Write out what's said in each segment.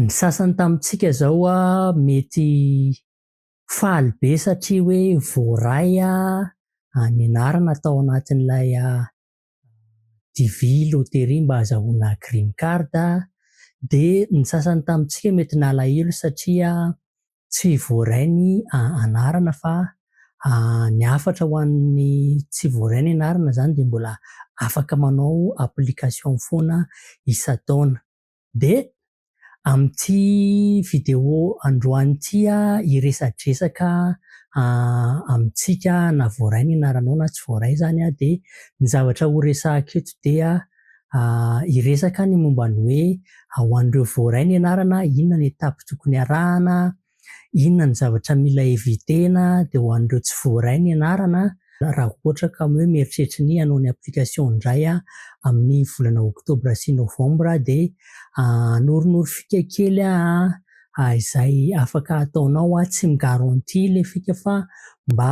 Ny sasany tamintsika zao mety faly be satria hoe voaray ny anarana tao anatin'ilay DV loterie mba azahoana green card dia ny sasany tamintsika mety nalahelo satria tsy voaray ny anarana fa ny hafatra ho an'ny tsy voaray ny anarana zany dia mbola afaka manao application foana isan-taona. Dia amin'ity vidéo androany ity aho hiresadresaka amintsika na voaray ny anaranao na tsy voaray izany aho dia ny zavatra horesahako eto dia hiresaka ny momba ny hoe ho an'ireo voaray ny anarana inona ny étape tokony harahana Inona ny zavatra mila eviter-na dia ho an'ireo tsy voaray ny anarana raha ohatra ka hoe mieritreritra ny hanao ny application indray amin'ny volana octobre sy novembre dia anorinoro fika kely izay afaka ataonao tsy mi-garantie ilay fika fa mba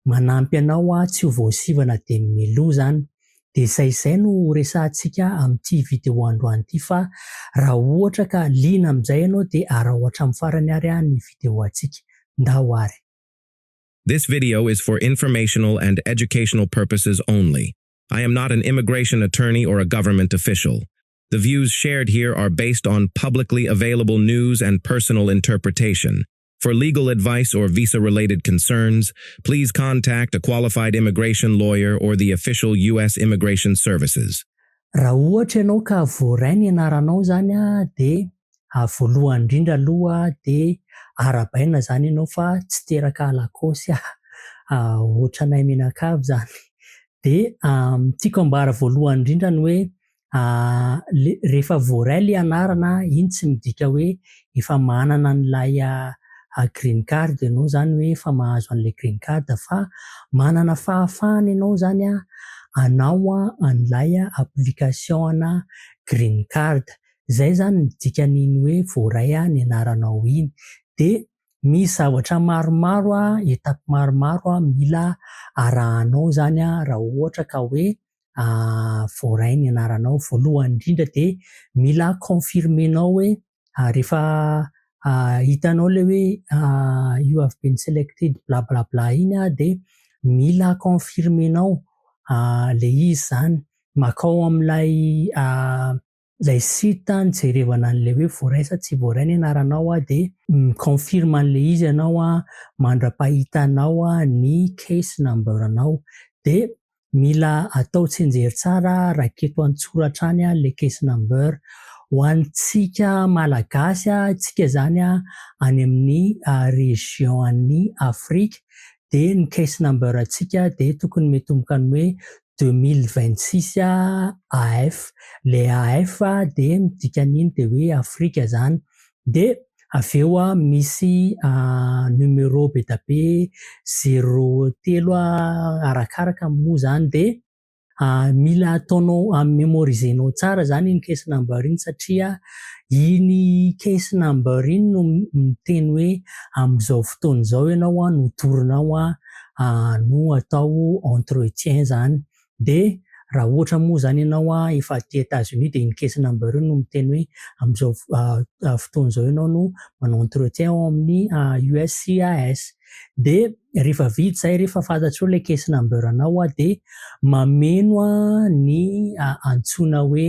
manampy anao aho tsy ho voasivana dia ny Melo zany dia saizay no ho resahantsika amin'ity video androany ity fa raha ohatra ka liana amin'izay ianao dia araho hatramin'ny farany ary aho ny video antsika ndao ary This video is for informational and educational purposes only. I am not an immigration attorney or a government official. The views shared here are based on publicly available news and personal interpretation. For legal advice or visa related concerns, please contact a qualified immigration lawyer or the official US Immigration Services. Raha ohatra ianao ka voaray ny anaranao izany dia voalohany indrindra aloha dia arahabaina izany ianao fa tsy teraka Lacoste ohatranay mianakavy izany dia tiako ambara voalohany indrindra ny hoe rehefa voaray ilay anarana iny tsy midika hoe efa manana an'ilay green card ianao izany hoe efa mahazo an'ilay green card fa manana fahafahana ianao izany hanao an'ilay application ana green card. Izay izany no dikan'iny hoe voaray ny anaranao iny. Dia misy zavatra maromaro, étape maromaro mila arahanao izany raha ohatra ka hoe voaray ny anaranao. Voalohany indrindra dia mila confirmer-nao hoe rehefa hitanao ilay hoe you have been selected bla bla bla iny dia mila confirmer-nao ilay izy izany. Makao amin'ilay Ilay site an nijerevana an'ilay hoe voaray sa tsy voaray ny anaranao an dia mi-confirme an'ilay izy ianao an mandra-pahitanao an ny case number anao. Dia mila atao tsinjery tsara an raketo an-tsoratra any an ilay case number. Ho antsika Malagasy an, isika izany an any amin'ny région an'i Afrique dia ny case number antsika dia tokony mitomboka ny hoe deux mille vingt six AF le AF dia midika an'iny dia hoe afrika izany dia avy eo aho misy numéro be dia be zéro telo arakaraka moa izany dia mila ataonao en mémorisé nao tsara izany iny case number iny satria iny case number iny no miteny hoe amin'izao fotoana izao ianao no torinao no atao entretien izany dia raha ohatra moa izany ianao efa aty Etats Unis dia iny caisse number iny no miteny hoe amin'izao fotoana izao ianao no manao entretien ao amin'ny USCIS dia rehefa vita izay rehefa fantatrao ilay caisse number anao dia mameno ny antsoina hoe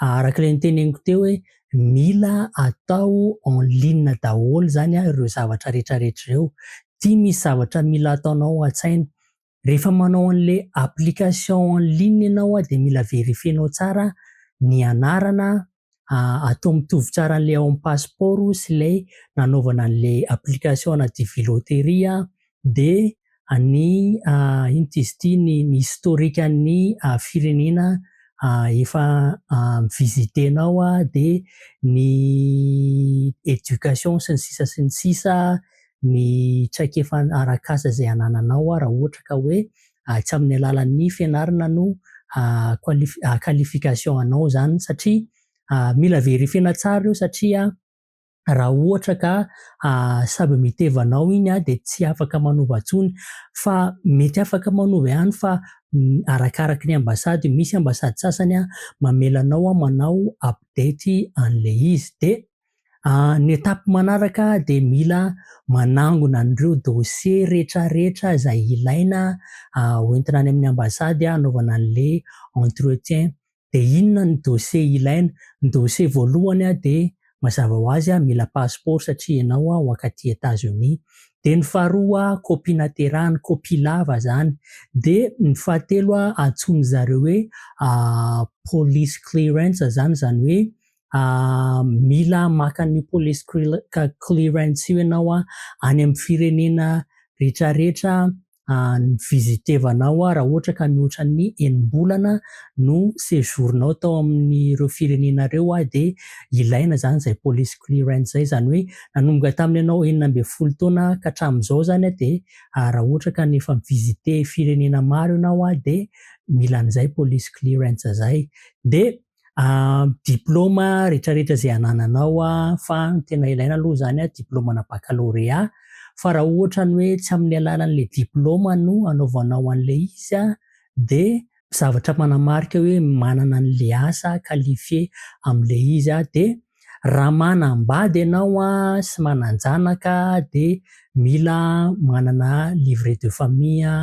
araka ilay noteneniko teo hoe mila atao en ligne daholo izany ireo zavatra rehetra rehetra ireo. Ity misy zavatra mila ataonao an-tsaina. Rehefa manao an'ilay application en ligne ianao dia mila verifier-nao tsara ny anarana, atao mitovy tsara an'ilay ao amin'ny pasipaoro sy ilay nanaovana an'ilay application anaty Vilo Tery. dia ny inona ity izy ity ny historique an'ny firenena efa visiter-nao dia ny éducation sy ny sisa sy ny sisa ny traikefa arak'asa izay anananao raha ohatra ka hoe tsy amin'ny alalan'ny fianarana no qualification anao izany satria mila verifier-na tsara ireo satria raha ohatra ka samy miteva anao iny dia tsy afaka manova intsony fa mety afaka manova ihany fa arakaraky ny ambasady, misy ambasady sasany mamela anao manao update an'ilay izy dia ny étape manaraka dia mila manangona an'ireo dossier retraretra izay ilaina hoentina any amin'ny ambasady hanaovana an'ilay entretien dia inona ny dossier ilaina? Ny dossier voalohany dia mazava ho azy mila passeport satria ianao hoankaty Etats-Unis. Dia ny faharoa copie naterahany, copie lava izany. Dia ny fahatelo antsoin'ny zareo hoe police clearance izany, izany hoe mila maka an'io police clearance io ianao any amin'ny firenena rehetrarehetra ni-visiter-vana aho raha ohatra ka mihoatra ny enim-bolana no séjour-nao tao amin'ireo firenena ireo aho dia ilaina izany izay police clearance izay, izany hoe nanomboka tamin'ny anao enina ambin'ny folo taona ka hatramin'izao izany dia raha ohatra ka efa mi-visiter firenena maro ianao dia mila an'izay police clearance izay. Dia diplaoma retraretra izay anananao fa tena ilaina aloha izany a diplaomana bakalorea fa raha ohatra ny hoe tsy amin'ny alalan'ilay diplaoma no anaovanao an'ilay izy a dia zavatra manamarika hoe manana an'ilay asa qualifié amin'ilay izy a dia raha manambady ianao sy manan-janaka dia mila manana livret de famille,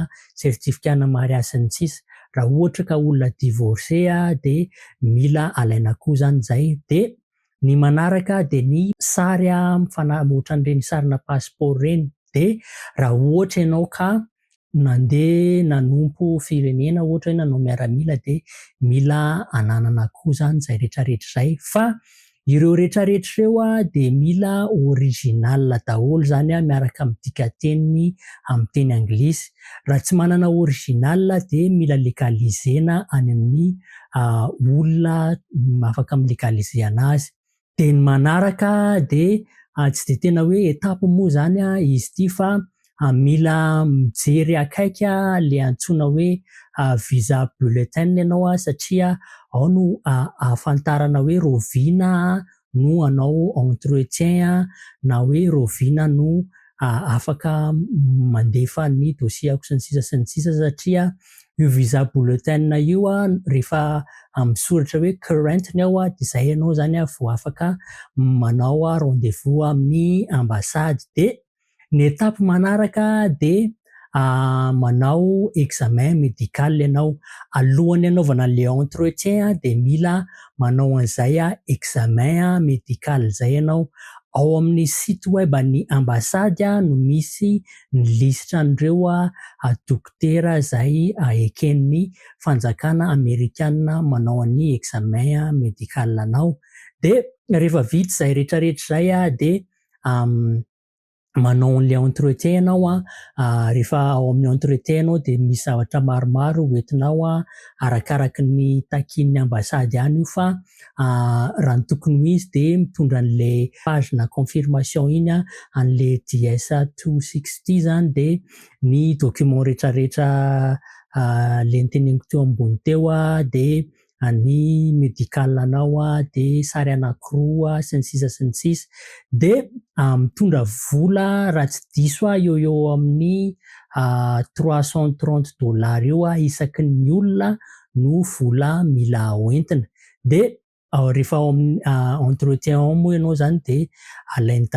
certificat ana mariazy sy ny sisa Raha ohatra ka olona divorcé dia mila alaina koa izany izay. Dia ny manaraka dia ny sary mifana- ohatran'ireny sarina passeport ireny. Dia raha ohatra ianao ka Nandeha nanompo firenena ohatra hoe nanao miaramila dia mila ananana koa izany izay rehetra rehetra izay fa ireo rehetra rehetra ireo a dia mila original daholo izany a miaraka amin'ny dikateniny amin'ny teny anglisy raha tsy manana original dia mila legaliser-na any amin'ny olona afaka mi-legaliser anazy Dia ny manaraka dia tsy dia tena hoe étape moa izany izy ity fa mila mijery akaiky ilay antsoina hoe visa bulletin ianao satria ao no ahafantarana hoe rahoviana no hanao entretien na hoe rahoviana no afaka mandefa ny dossier-ko sy ny sisa sy ny sisa satria io visa bulletin io rehefa amin'ny soratra hoe current ny ao dia izay ianao izany vao afaka manao rendez-vous amin'ny ambassade dia ny étape manaraka dia manao examen medical ianao, alohan'ny hanaovana le entretien dia mila manao an'izay examen medical izay ianao. Ao amin'ny site web an'ny ambasady no misy ny lisitra an'ireo dokotera izay eken'ny fanjakana amerikana manao an'ny examen medical anao. Dia rehefa vita izay rehetrarehetra izay dia manao an'ilay entretien ianao an, ah, rehefa ao amin'ny entretien ianao dia misy zavatra maromaro hoentinao an, arakaraky ny takin'ny ambassade ihany io fa ah, raha ny tokony ho izy dia mitondra an'ilay pagina confirmation iny an, an'ilay JS 260 zany dia ny document rehetrarehetra ah, le noteneniko teo ambony teo an, dia any medical anao de sary anakiroa sy ny sisa sy ny sisa de mitondra vola raha tsy diso aho eo eo amin'ny trois cent trente dollars eo isaky ny olona no vola mila hoentina de rehefa ao amin'ny entretien ao moa ianao zany de alainy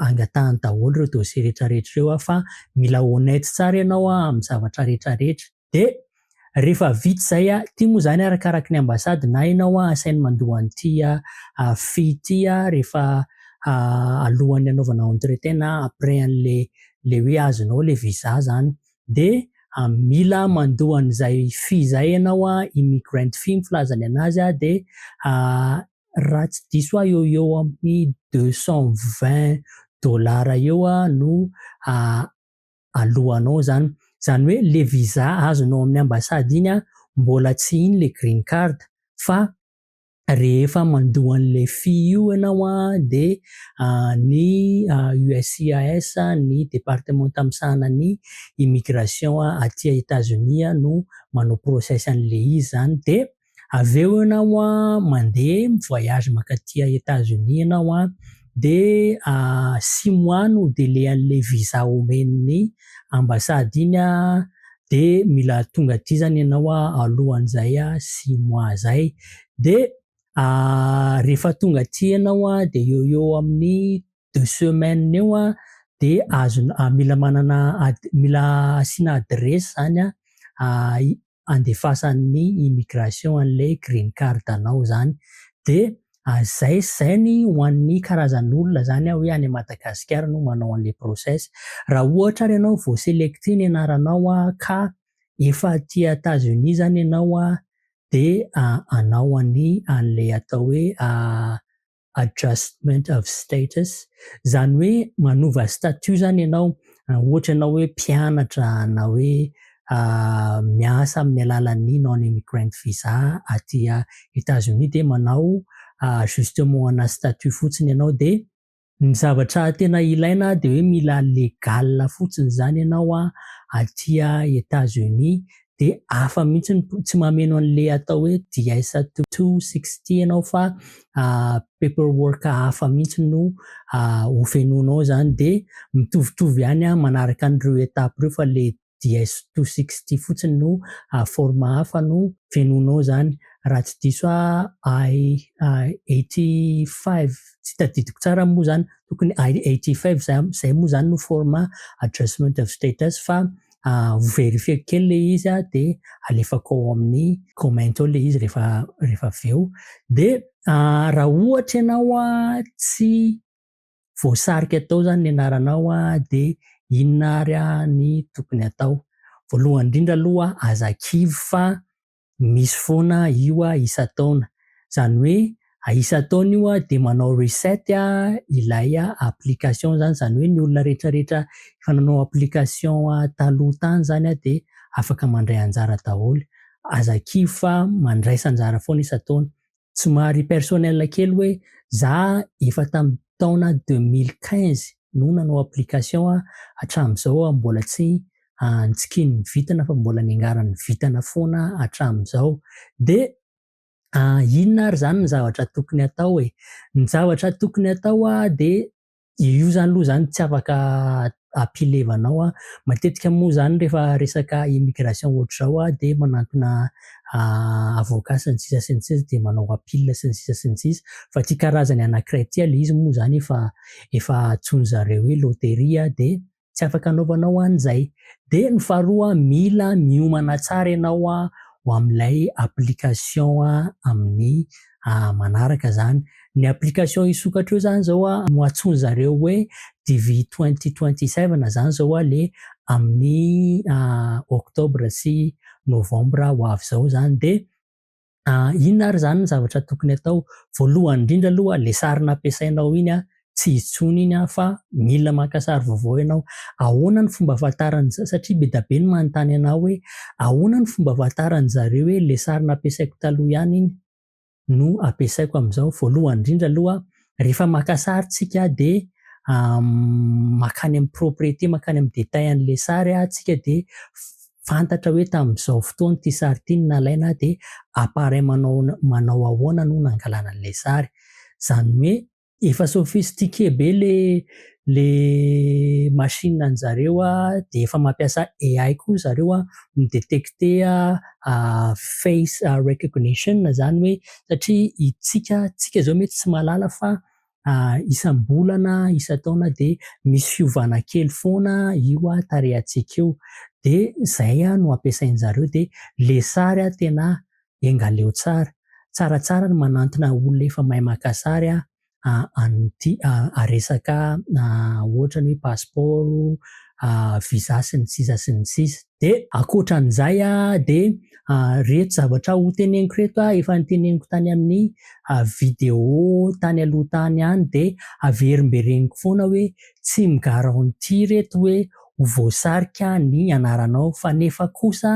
angatahany daholo ireo dossier rehetra rehetra ireo fa mila honnête tsara ianao amin'ny zavatra rehetra rehetra Dia rehefa vita izay, ity moa izany arakaraky ny ambasady na ianao asainy mandoa an'ity fee ity rehefa alohan'ny hanaovana entretien na après an'ilay ilay hoe azonao ilay visa izany. Dia mila mandoa an'izay fee izay ianao, immigrant fee ny filazany an'azy, dia raha tsy diso aho eo ho eo amin'ny deux cent vingt dollars eo no alohanao zany. Zany hoe le visa azonao amin'ny ambassade iny an, mbola tsy iny le green card fa rehefa mandoa an'le fy io ianao an de ny USCIS, ny departemanta misahana ny immigration aty Etazonia no manao process an'le izy zany dia avy eo ianao an mandeha mi voyage mankaty à Etats Unis ianao an de six mois no délai anle visa omen'ny ambassade iny an de mila tonga aty zany ianao an alohan'izay six mois zay de rehefa tonga aty ianao an de eo ho eo amin'ny deux semaines eo an, dia azonao, mila manana, mila asiana adiresy izany an, handefasan'ny immigration an'ilay green card anao izany. Dia izay, izay ny ho an'ny karazan'olona izany an, hoe any Madagasikara no manao an'ilay process. Raha ohatra ary ianao vao selecter ny anaranao an, ka efa aty Etats-Unis izany ianao an, dia hanao an'i, an'ilay atao hoe adjustment of status, izany hoe manova statut izany ianao, ohatra ianao hoe mpianatra na hoe miasa amin'ny alalan'ny non immigrant visa aty Etazonia dia manao ajustement ana statut fotsiny ianao dia ny zavatra tena ilaina dia hoe mila legal fotsiny izany ianao aty Etazonia de hafa mihitsy ny tsy mameno an'le atao hoe DISA two two sixty ianao fa paper work hafa mihitsy no hofenoinao zany de mitovitovy ihany an manaraka an'ireo étape ireo fa le DIS two sixty fotsiny no forme hafa no fenoinao zany raha tsy diso ahy I eighty five tsy tadidiko tsara moa zany tokony I eighty five zay moa zany no forme adjustment of status fa ho verifier-ko kely ilay izy aho dia alefako ao amin'ny comment ao ilay izy rehefa rehefa avy eo. Dia raha ohatra ianao tsy voasarika tao izany ny anaranao dia inona ary ny tokony atao? Voalohany indrindra aloha aza kivy fa Misy foana io a isan-taona. Izany hoe a isan-taona io a dia manao reset a ilay application izany. Izany hoe ny olona rehetrarehetra efa nanao application taloha tany izany a dia afaka mandray anjara daholo. Aza kivy fa mandraisa anjara foana isan-taona. Somary personnel kely hoe za efa tamin'ny taona deux mille quinze no nanao application hatramin'izao aho mbola tsy antsikin'ny vintana fa mbola niangaran'ny vintana foana hatramin'izao dia inona ary izany ny zavatra tokony atao e? Ny zavatra tokony atao dia Io izany aloha izany tsy afaka ampilevanao an. Matetika moa izany rehefa resaka immigration ohatr'izao an, dia manantona avocat sy ny sisa sy ny sisa dia manao appeal sy ny sisa sy ny sisa. Fa ity karazany anankiray ity ilay izy moa izany efa efa antsoin'izareo hoe loterie dia tsy afaka anaovanao an izay. Dia ny faharoa mila miomana tsara ianao ho amin'ilay application amin'ny manaraka izany. Ny application hisokatra eo izany izao no antsoin-dry zareo hoe DV twenty twenty seven izany izao ilay amin'ny octobre sy novembre ho avy izao izany dia. Inona ary izany ny zavatra tokony atao? Voalohany indrindra aloha ilay sary nampiasainao iny tsy intsony iny fa mila maka sary vaovao ianao. Ahoana ny fomba ahafantaran'ny za satria be dia be ny manontany anao hoe ahoana ny fomba ahafantaran'ny zareo hoe ilay sary nampiasaiko taloha ihany iny no ampiasaiko amin'izao? Voalohany indrindra aloha rehefa maka sary tsika dia makany amin'ny propriété, makany amin'ny détail an'ilay sary tsika dia fantatra hoe tamin'izao fotoana ity sary ity no nalaina dia appareil manao manao ahoana no nangalana an'ilay sary. Izany hoe efa sophistiqué be ilay le machine an'ny zareo dia efa mampiasa AI koa zareo a mi detecte a face recognition zany hoe satria itsika tsika zao mety tsy mahalala fa isam-bolana isan-taona dia misy fiovana kely foana io a tarehantsika io dia zay a no ampiasain'ny zareo dia le sary a tena enga leo tsara tsaratsara ny manantona olona efa mahay maka sary a an'ity resaka ohatra ny hoe pasipaoro, visa sy ny sisa sy ny sisa. Dia ankoatra an'izay dia ireto zavatra ho teneniko ireto efa noteneniko tany amin'ny video tany aloha tany ihany dia averimbereniko foana hoe tsy mi-garantie ireto hoe ho voasarika ny anaranao fa nefa kosa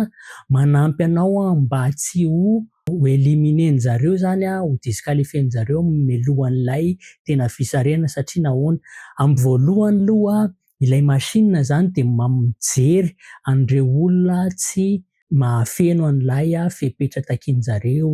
manampy anao mba tsy ho ho éliminer-njareo zany an, ho disqualifier-njareo mialoha an'ilay tena fisarihana satria nahoana? Amin'ny voalohany aloha ilay machine zany dia mijery an'ireo olona tsy mahafeno an'ilay fepetra takian'njareo,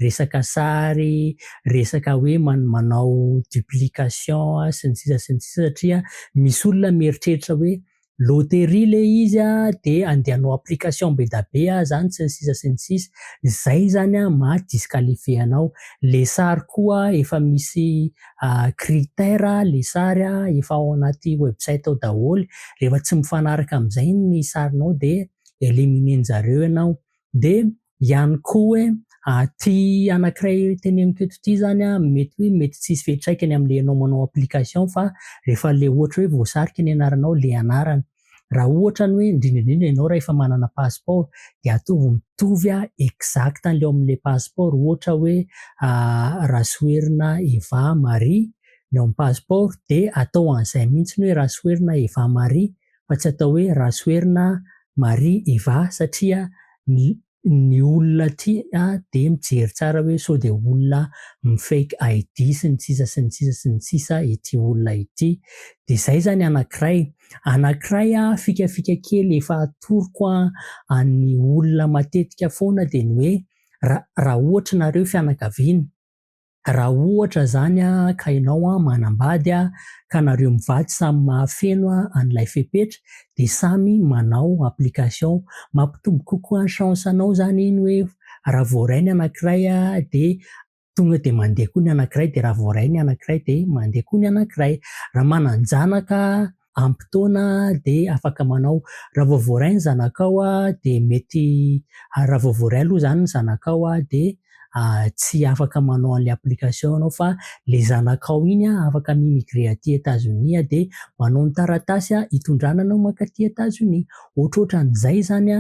resaka sary, resaka hoe manao duplication sy ny sisa sy ny sisa satria misy olona mieritreritra hoe loterie le izy a de andehanao application be da be a zany sy ny sisa sy ny sisa zay zany a maha disqualifier anao le sary koa efa misy critère le sary a efa ao anaty website ao daholo rehefa tsy mifanaraka amizay ny sarinao de eliminer njareo ianao de ihany koa hoe ity anankiray teneniko eto ity izany mety hoe mety tsy hisy fiantraikany amin'ilay ianao manao application fa rehefa ilay ohatra hoe voasarika ny anaranao ilay anarana. Raha ohatra ny hoe indrindra indrindra ianao raha efa manana passeport dia ataovy mitovy exact an'ilay ao amin'ilay passeport ohatra hoe Rasoherina Eva Marie ny ao amin'ny passeport dia atao an'izay mihitsy ny hoe Rasoherina Eva Marie. fa tsy atao hoe Rasoherina Marie Iva satria ny olona aty dia mijery tsara hoe sao dia olona mi-fake ID sy ny sisa sy ny sisa sy ny sisa ity olona ity. Dia izay izany anankiray. Anankiray fikafika kely efa atoroko an'ny olona matetika foana dia ny hoe raha ohatra ianareo fianakaviana, Raha ohatra zany ka enao manambady ka nareo mivady samy mahafeno an'ilay fepetra de samy manao application. Mampitombo kokoa ny chance anao zany iny hoe raha voaray ny anakiray de tonga eo de mandeha koa ny anakiray de raha voaray ny anakiray de mandeha koa ny anakiray. Raha manan-janaka ampy taona dia afaka manao raha vao voaray ny zanakao dia mety raha vao voaray aloha izany ny zanakao dia tsy afaka manao an'ilay application ianao fa ilay zanakao iny afaka mi-migre aty Etazonia dia manao ny taratasy hitondrana anao mankaty Etazonia. Ohatrohatran'izay izany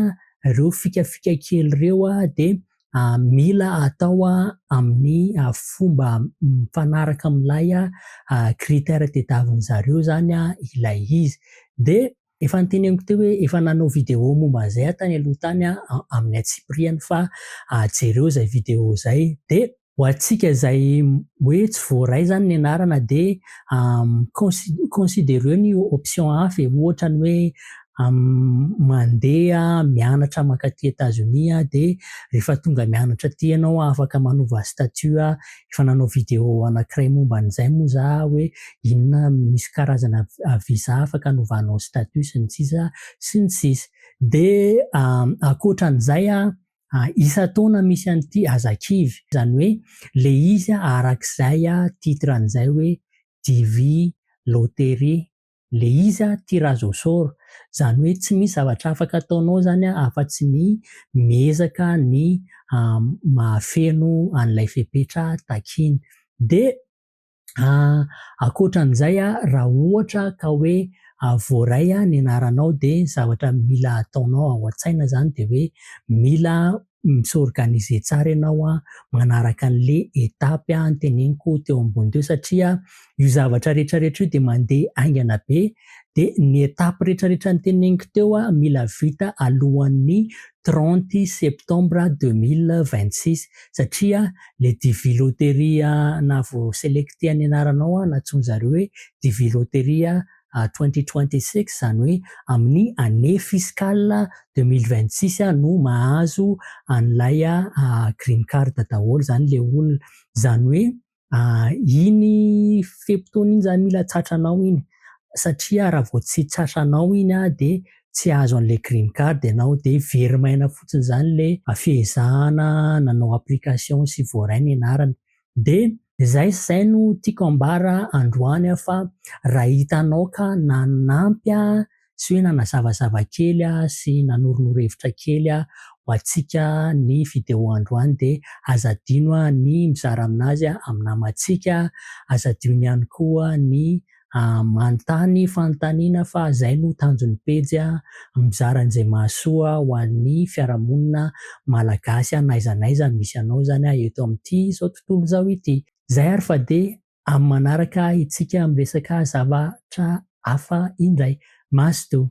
ireo fikafika kely ireo dia mila atao amin'ny fomba mifanaraka amin'ilay critère tadiavin'ny zareo izany ilay izy. Dia efa noteneniko teo hoe efa nanao vidéo momba an'izay aho tany aloha tany amin'ny antsipiriany fa jereo izay vidéo izay. Dia ho antsika izay hoe tsy voaray izany ny anarana dia considereo ny option hafa e, ohatra ny hoe mandeha mianatra mankaty Etazonia dia rehefa tonga mianatra aty ianao afaka manova statut efa nanao video anankiray momba an'izay moa za hoe inona misy karazana visa afaka anovanao statut sy ny sisa sy ny sisa dia ankoatran'izay isan-taona misy an'ity aza kivy izany hoe le izy arak'izay titre an'izay hoe DV loterie Le izy a tia Razosor, zany hoe tsy misy zavatra afaka ataonao zany a afa tsy ny miezaka ny mahafeno an'ilay fepetra takiany. De ankoatran'izay a raha ohatra ka hoe voaray ny anaranao de zavatra mila ataonao ao an-tsaina zany de hoe mila mi-s'organiser tsara ianao an, manaraka an'le étape noteneniko teo ambony teo satria io zavatra retraretra io dia mandeha haingana be dia ny étape retraretra noteneniko teo mila vita alohan'ny trente septembre deux mille vingt six satria le devis loterie na voaselecter ny anaranao na antsoin'zareo hoe devis loterie twenty twenty six izany hoe amin'ny année fiscale deux mille vingt six no mahazo an'ilay green card daholo izany ilay olona. Izany hoe iny fe-potoana iny izany mila tratranao iny satria raha vao tsy tratranao iny dia tsy hahazo an'ilay green card ianao dia very maina fotsiny izany ilay fehezahana nanao application sy voaray ny anarany. De zay sy zay no tiako ambara androany aho fa raha hitanao ka nanampy ahy sy hoe nanazavazava kely aho sy nanoronoro hevitra kely aho ho antsika ny video androany de aza adino ny mizara aminazy amin'ny namantsika, aza adino ihany koa ny Manontany fanontaniana fa izay no tanjon'ny pejy, mizara an'izay mahasoa ho an'ny fiarahamonina malagasy n'aiza n'aiza misy anao izany eto amin'ity izao tontolo izao ity. Izay ary fa dia amin'ny manaraka isika miresaka zavatra hafa indray. Mazotoa.